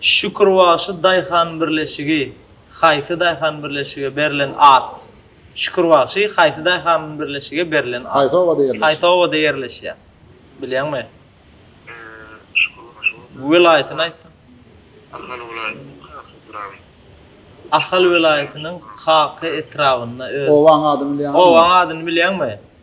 Şükürbaşy daýhan birleşigi haýsy daýhan birleşige berlen at? Şükürbaşy haýsy daýhan birleşige berlen at? Haýsy obada ýerleşýär? Haýsy obada ýerleşýär? Bilýäňmi? Şükürbaşy obasy. Welaýatyny aýtsaň? Ahal welaýatynyň Kaka etrabynda. Ahal welaýatynyň Kaka etrabynda öz. Obanyň adyny bilýäňizmi? Obanyň adyny bilýäňmi?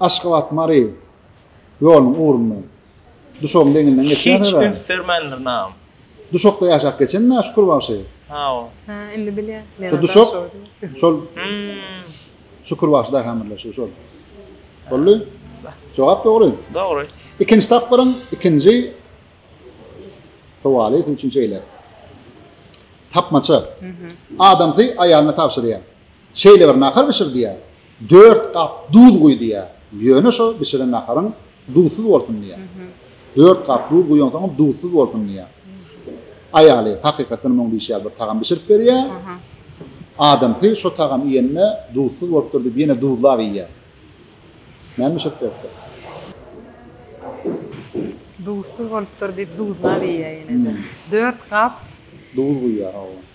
Aşgabat, Mary ýolunyň ugrundan, Duşagyň deňinden geçýäs. Hiç üns bermändir nam. Duşakda ýaşap geçenmi Şükür bagşy? Hawa. Ha, indi bilýän. Şu Duşak, şol Şükür bagşy daýhan birleşigi şol. Boldy. Jogap dogry. Dogry. Ikinji tapgyryň ikinji sowaly üçin şeýle. Tapmaça. Adamsy aýalyna tabşyrýar. Şeýle bir nahar bişir diýýär. Dört gap duz guý diýýär. Ýöne şo bişiren naharyň duzsuz bolsun diýýär. Dört gap duz guýansoňam duzsuz bolsun diýýär. Aýaly hakykatdanam oň diýşi ýaly bir tagam bişirip berýär. Adamsy şo tagamy iýende duzsuz bolupdyr diýip ýene duzlap iýýär. Näme bişirip beripdir? Duzsuz bolupdyr diýip duzlap iýýär ýene-de. Dört gap Duz guýýar, hawa.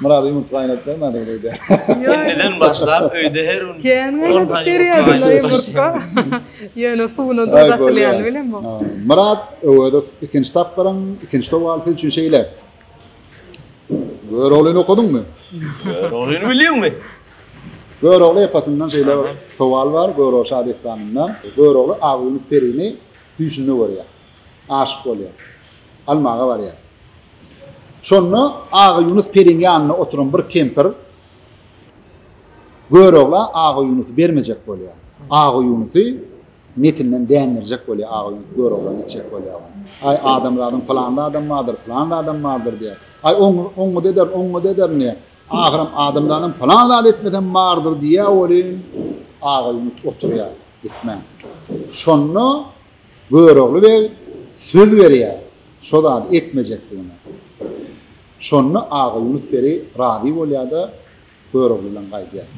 Murad ýumurtga gaýnadyp bermädiňiz öýde. Indiden başlap öýde her gün. Kän gaýnadyp berýärdiler ýumurtga. Ýöne suwuna duz atylýany bilemok. Murad Öwezow ikinji tapgyryň ikinji towalysy üçin şeýle. Göroglyny okadyňmy? Göroglyny bilýäňmi? Görogly epasyndan şeýle bir towal bar, Görogly şadessanyndan. Görogly Agy Ýunus perini düýşünde görýär. aşyk bolýar. Almaga barýar. Şonda Aga Ýunus periniň ýanynda oturan bir kempir Görogla Aga Ýunusy bermejek bolýar. Aga Ýunusy netinden dändirjek bolýar. Aga Ýunus Göroglany içjek bolýar. Aý, adamzadyň pylanly adam bardyr, pylanly adam bardyr diýýär. Aý, oň, oňňuda ederin, oňňuda ederin diýýär. Ahyram adamzadyň pylan zady etmesem bardyr diýýär welin, Aga Ýunus oturýar, gitmän. Şonda Görogly beg söz berýär şo zady etmejekdigine. Şonda Aga Ýunus peri razy bolýar-da, Görogly bilen gaýdýar.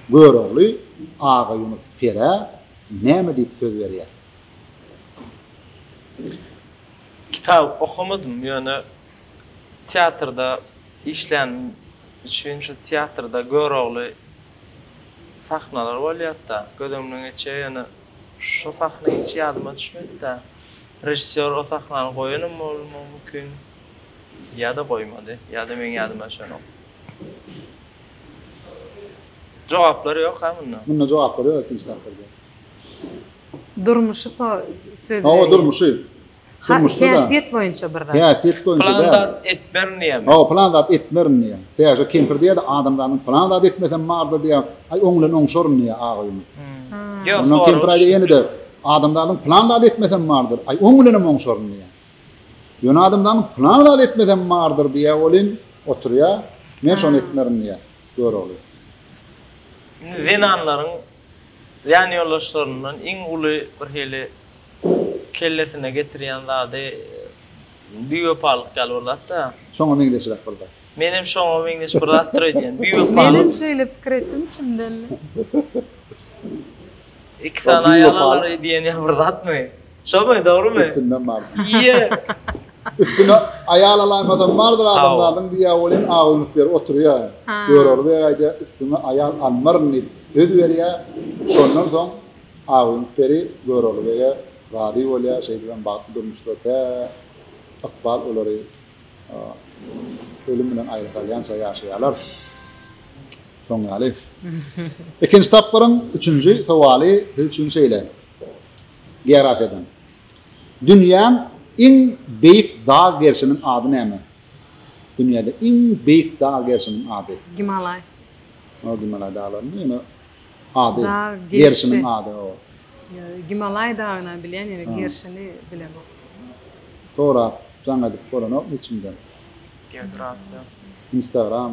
Görogly Aga Ýunus perä näme diýip söz berýär? Kitap okamadym, ýöne teatrda işlänim üçin şu teatrda Görogly sahnalar bolýar-da, göz öňüne geçýär, ýöne Şo sahna hiç ýadyma düşmedi-dä. Režissýor o sahnany goýanam bolmagy mümkin. Ýa-da goýmady. Ýa-da meň ýadyma düşenok. Jogaplar ýok-a munda. Munda jogaplar ýok ikinji tapgyrda. Durmuşy so söz berýär. Hawa, durmuşy. Durmuşda da. Häsiýet boýunça bir zat. Häsiýet boýunça däl. Plan zat etmerin diýýär. Hawa, plan zat etmerin diýýär. Täze kempir diýýär-de, adamzanyň plan zat etmesem bardyr diýýär. Aý, oň bilen oňşaryn diýýär agybymyz. Ýok, Ondan kempir aýdýar ýene-de, adamzadyň plan zat etmesem bardyr. Aý, oň bilenem oňşaryn diýýär. Ýöne adamzanyň plan zat etmesem bardyr diýýär welin, oturýar, Men şony etmerin diýýär. Görogly. Indi zenanlaryň ýanýoldaşlaryndan iň uly bir hili kellesine getirýän zady biwepalyk ýaly bir zat-da. Şoňa meňzeşräk bir zat. Menem şoňa meňzeş bir zatdyr öýdýän. Biwepalyk. Menem şeýle pikir etdim içimden. Iki sany aýal alar öýdýän ýaly bir zatmy? Şomy, dogrumy? Üstünden bardy. Ýe. Üstüne aýal alaýmadam bardyr adamzadyň diýýä welin awunyp ýeri oturýa. Görogly beg aýdýa üstüňe aýal almaryn diýip söz berýä. Şondan soň awunyp beri Görogly bege razy bolýa. Şeýdibem bagtly durmuşda tä ykbal olary ölüm bilen aýry salýança ýaşaýarlar. Şoň ýaly. Ikinji tapgyryň üçünji sowaly siz üçin şeýle. Geografiýadan. Dünýäň iň beýik dag gerşiniň ady näme? Dünýäde iň beýik dag gerşiniň ady. Gimalaý. Ýok, Gimalaý daglarynyň ýöne ady. Dag gerşi. Gerşiniň ady, hawa. Gimalaý dagyny bilýän, ýöne gerşini bilemok. Sorap, jaň edip bolanokmy içiňden? Geografiýa. Instagram.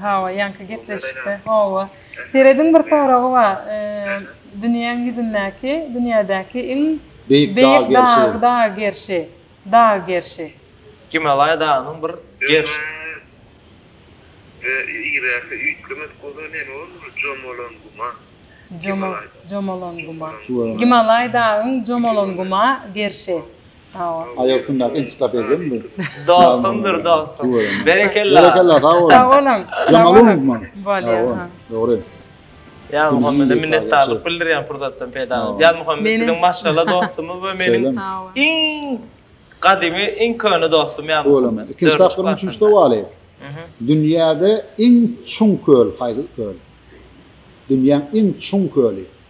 Hawa ýaňky gepleşikde hawa. Serediň bir soragy bar dünýäň ýüzündäki dünýädäki iň Beýik dag gerşi. Dag gerşi. Dag gerşi. Gimalaýa dagynyň bir gerşi. Yzýaky üýtgemedik bolsa neme bolmaly jomolan guma. Jomolan guma. Gimalaý dagyň jomolan guma gerşi. Sawa. Aýak üstündäki ensiklopediyam bu. Dostumdyr dostum. Berekella. Berekella sag boluň. Sag boluň. Jamal unutma. Bolýar. Dogry. Ýa Muhammede minnetdarlyk bildirýän pursatdan peýdalanyp. Ýa Muhammed biziň maşgala dostumyz we meniň iň gadymy, iň köne dostum ýa Muhammed. Ikinji tapgyryň üçünji sowaly. Dünýäde iň çuň köl haýsy köl? Dünýäň iň çuň köli.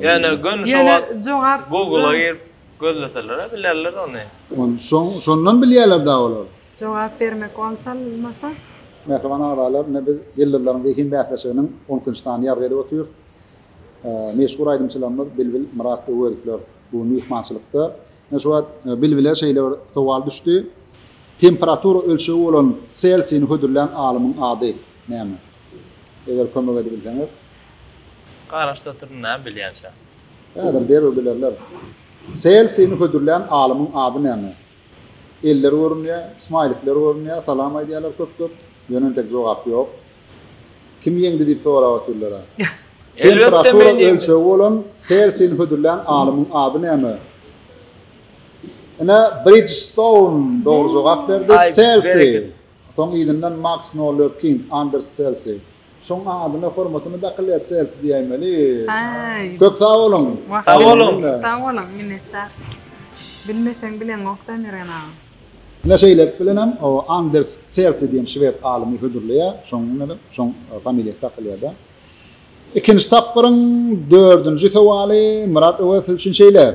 Ýöne göni şo wagt Google-a girip gözleseler-ä bilerler ony. Şondan bilýärler-dä olar. Jogap bermek wagtalmasa. Mähriban agzalar, ine biz Ýyldyzlaryň zehin bäsleşiginiň on ikinji sanyny ýazgy edip otyrys. Meşhur aýdymçylarymyz Bilbil, Myrat Öwezowlar bu gün myhmançylykda. Ine şu wagt Bilbile şeýle bir sowal düşdi. Temperatura ölçegi bolan Selsiýni hödürlän alymyň ady näme? Eger kömek edibilseňiz. Garaşda oturdym näme bilýänçä. Häzir derrew bilerler. Selfini hödürlän alymyň ady näme? Eller görünýär, smaýlikler görünýär, salam aýdýarlar köp köp, ýöne entek jogap ýok. Kim ýeňdi diýip sorap otyrlar-a. Temperatura ölçegi bolan selfini hödürlän alymyň ady näme? Ine Bridgestone dogry jogap berdi. Selfi Soň yzyndan Maks Noller King, Anders Çelsi. Şoň adyna hormatymy dakyl et Çelsi diýäýmeli. Köp sag boluň. Sag boluň. Sag boluň, minnetdar. Bilmeseň bileňokda Mergen aga. Ine şeýlelik bilenem Anders Çelsi diýen şwed alymy hödürleýär, şoň bilenem şoň familiýasy dakylýarda. Ikinji tapgyryň dördünji sowaly Myrat Öwez siz üçin şeýle.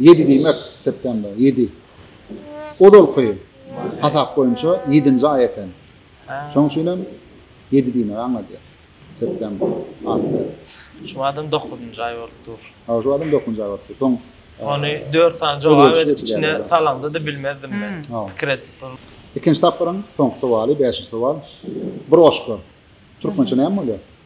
Ýedi diýmek, september, ýedi. Ozalky hasap boýunça ýedinji aý eken. Şonuň üçin hem ýedi diýmegi aňladýar. September, Atda. Şu badam dokuzynjy aý bolup dur. Hawa, şu badam dokuzynjy aý bolup dur. Soň. Ony dört sany jogap edip içine salaňda-da bilmezdim men. Pikir edip durdum. Ikinji tapgyryň soňky sowaly, bäşinji sowal. Bir goşgy. Türkmençe näme bolýar?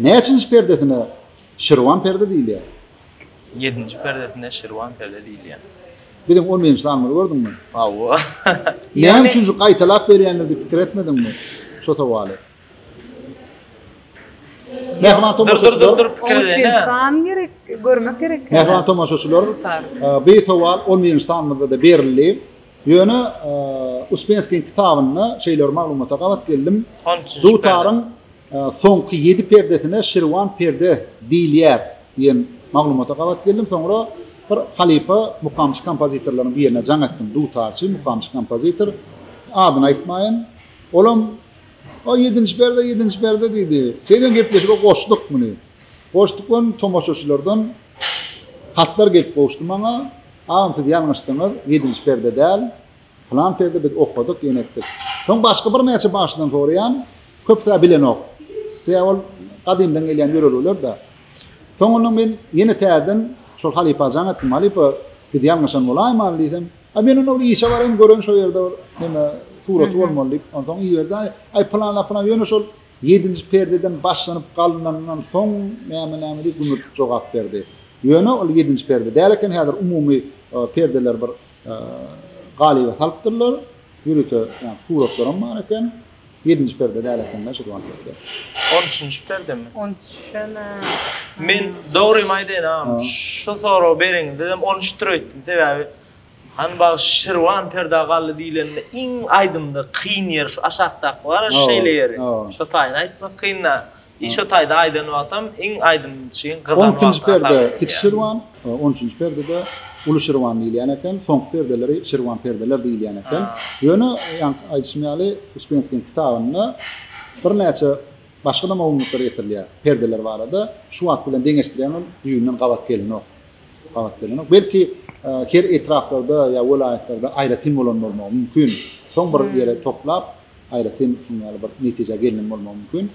Näçinji perdesine Şirwan perde diýilýär? Ýedinji perdesine Şirwan perde diýilýär. Biziň on birinji sanymyzy gördüňmi? Hawa. Näme üçin şu gaýtalap berýänligi pikir etmediňmi? Şu sowaly. Mähriban tomaşaçylar. Dur, dur, pikir edene. San gerek, görmek gerek. Mähriban tomaşaçylar. Bu sowal 11-nji sanymyzda da berildi. Ýöne Uspenskiň kitabynda şeýle bir maglumata gabat geldim. Dutaryň soňky ýedi perdesine Şirwan perde diýilýär diýen maglumata gabat geldim. Soňra bir halypa mukamçy kompozitorlaryň birine jaň etdim. Dutarçy, mukamçy kompozitor. Adyny aýtmaýyn. Olam O ýedinji perde, ýedinji perde diýdi. Şeýden gepleşige goşduk muny. Goşduk we tomaşaçylardan Hatlar gelip gowuşdy maňa, Agam siz ýalňyşdyňyz, ýedinji perde däl, pylan perde biz okadyk, ýene etdik. Soň başga birnäçe bagşydan soraýan, köpüsä bilenok. Sebäbi ol gadymdan gelýän ýörelgeler-dä. Soňundan men ýene täzeden şol halypa jaň etdim, Halypa, biz ýalňyşan bolaýmaly diýsem, Aý men onda bir işe baraýyn, göreýin şo ýerde bir neme suraty bolmaly diýip, onsoň iberdi, Aý pylan-a pylan, ýöne şol Ýedinji perdeden başlanyp galynanyndan soň näme-nämedi gümürtik jogap berdi. Ýöne ol ýedinji perde däl eken, häzir umumy perdeleri bir galyba salypdyrlar. Ýörite ýa suratlaram bar eken. Ýedinji perde däl eken-dä şu duan perde. On üçünji perdemi? On üçem-ä. Men dogrymy aýdaýyn agam, şu soragy bereňizdem on üçdir öýtdüm. Sebäbi Han bagşy Şirwan perda gally diýlende iň aýdymda kyn ýeri şu aşakdaky bar-a şeýle ýeri. Şo taýda aýtmak kyn da. I şo taýda aýdan wagtam iň aýdym üçin gyzan wagty. On ikinji perde kiçi Şirwan, on üçünji perdede uly Şirwan diýilýän eken. Soňky perdeleri Şirwan perdeler diýilýän eken. Ýöne ýaňky aýdyşym ýaly Uspenskiň kitabynda birnäçe başga-da maglumatlar getirilýär perdeler barada. Şu wagt bilen deňeşdirýän ol düýbünden gabat gelinok. gabat gelmeli. Belki her etraplarda ýa welaýatlarda aýratyn bolan bolmagy mümkin. Soň bir ýere toplap, aýratyn şuň ýaly bir netijä gelinen bolmagy mümkin.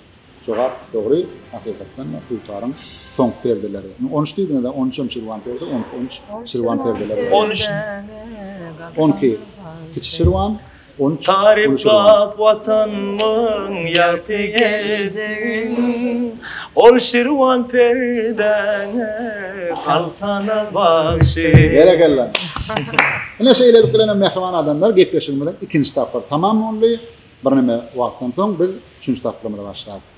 Jogap dogry, hakykatdan da dutaryň soňky perdeleri. Indi on üç diýdiňiz-ä, on üçem şirwan perde, on iki, on üç şirwan perdeleri. On üç. On iki kiçi şirwan, Ony taryplap Watanymyň ýagty geljegin, Ol Şirwan perdäňe galsana bagşy. Berekella. Ine şeýlelik bilen hem mähriban adamlar gepleşigimiziň ikinji tapgyry tamam boldy. Birneme wagtdan soň biz üçünji tapgyrymyzy başlarys.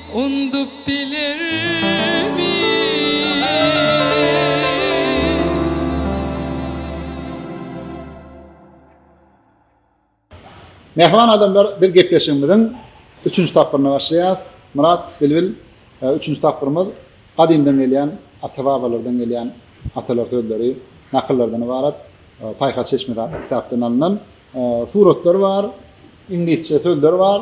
Undup bilermi? Mähriban adamlar, biz gepleşigimiziň üçünji tapgyryna başlaýarys. Myrat, Bilbil, e, üçünji tapgyrymyz gadymdan gelýän, ata-babalardan gelýän atalar sözleri, nakyllardan ybarat. E, Paýhas çeşmesi atly kitapdan alnan e, suratlar bar, iňlisçe sözler bar.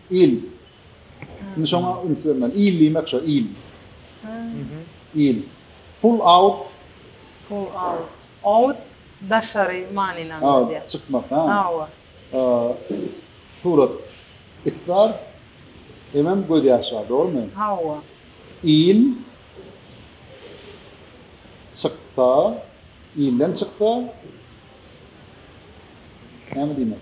Il. Indi şoňa üns bermeli. Il diýmek şo, il. Il. Pull out. Pull out. Out daşary manyny aňladýar. Çykmak, ha? Hawa. Surat. It bar. Hemem gözýaş bar, dogrumy? Hawa. Il çyksa, ilden çyksa näme diýmek?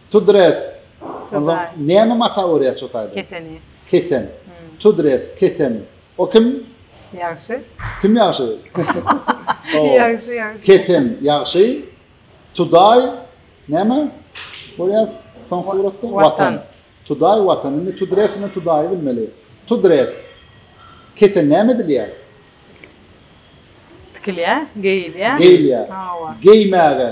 To dress. Onda näme mata örýär çotaýda? Keteni. Keten. To dress, keten. O kim? Ýagşy. Kim ýagşy? Ýagşy, ýagşy. Keten, ýagşy. Tudaý, näme? Görýär, soň suratda watan. Tudaý, watan. Indi to dress bilen tudaýy bilmeli. To dress. Keten näme edilýär? Tikilýär, geýilýär. Geýilýär. Hawa. Geýmäge.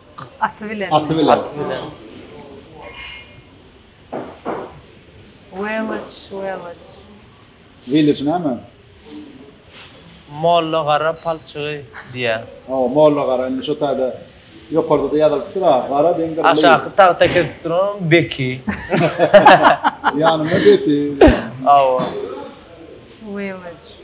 Aty bilen. Aty bilen. Aty bilen. Village, village. Village näme? Molla gara palçygy diýä. Hawa, molla gara indi şu taýda ýokarda-da ýazylypdyr ha, gara deň gara. Aşaky tagta kesip duran beki. Ýanyna beti. Hawa. Village.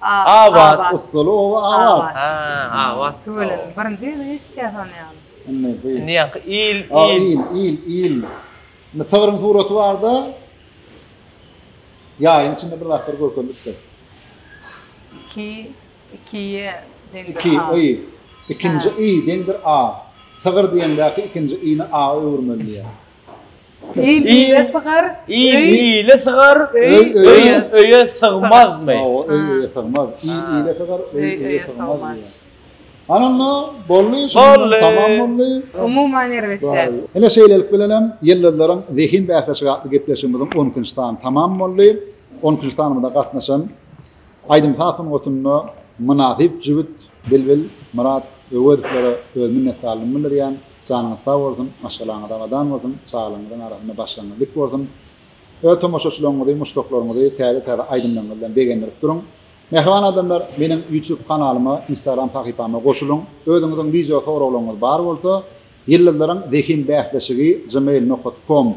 Abat Ussaly oba abat. Ha, abat. Tüweleme, birinji gezek eşitýäs ony ýaly. Indi bu. Indi ýaňky il, il. Il, il, il. Indi sygryň suraty barda ýaýyň içinde bir zatlar görkezilipdir. Iki, ikiýe deňdir a. Iki, i. Ikinji i deňdir a. Sygyr diýeňdäki ikinji i-ni a öwürmeli diýýär. Il ile sygar, il ile sygar, öý öýe sygmazmy? Hawa, öý öýe sygmaz. Il ile sygar, öý öýe sygmaz diýýär. Ana onda boldy, şunda tamam boldy. Umuman erbet däl. Ine şeýlelik bilen hem Ýyldyzlaryň zehin bäsleşigi atly gepleşigimiziň on ikinji sany tamam boldy. On ikinji sanymyza gatnaşan aýdym-saz sungatynda mynasyp jübüt Bilbil, Myrat Öwezowlara öz minnetdarlygymy bildirýän. Janyňyz sag bolsun, maşgalaňyz abadan bolsun, çagalaryňyzyň arasynda başyňyz dik bolsun. Öz tomaşaçylaryňyzy, muşdaklaryňyzy täze-täze aýdymlaryňyz bilen begendirip duruň. Mähriban adamlar, meniň YouTube kanalyma, Instagram sahypama goşulyň. Özüňiziň wideo soraglaryňyz bar bolsa, Ýyldyzlaryň zehin bäsleşigi gmail nokat kom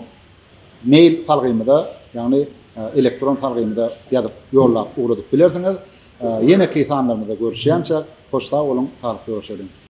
mail salgymyza, ýagny elektron salgymyza ýazyp ýollap ugradyp bilersiňiz. Ýeneki sanlarymyzda görüşýänçäk, hoş sag boluň, saglyk görüşeliň!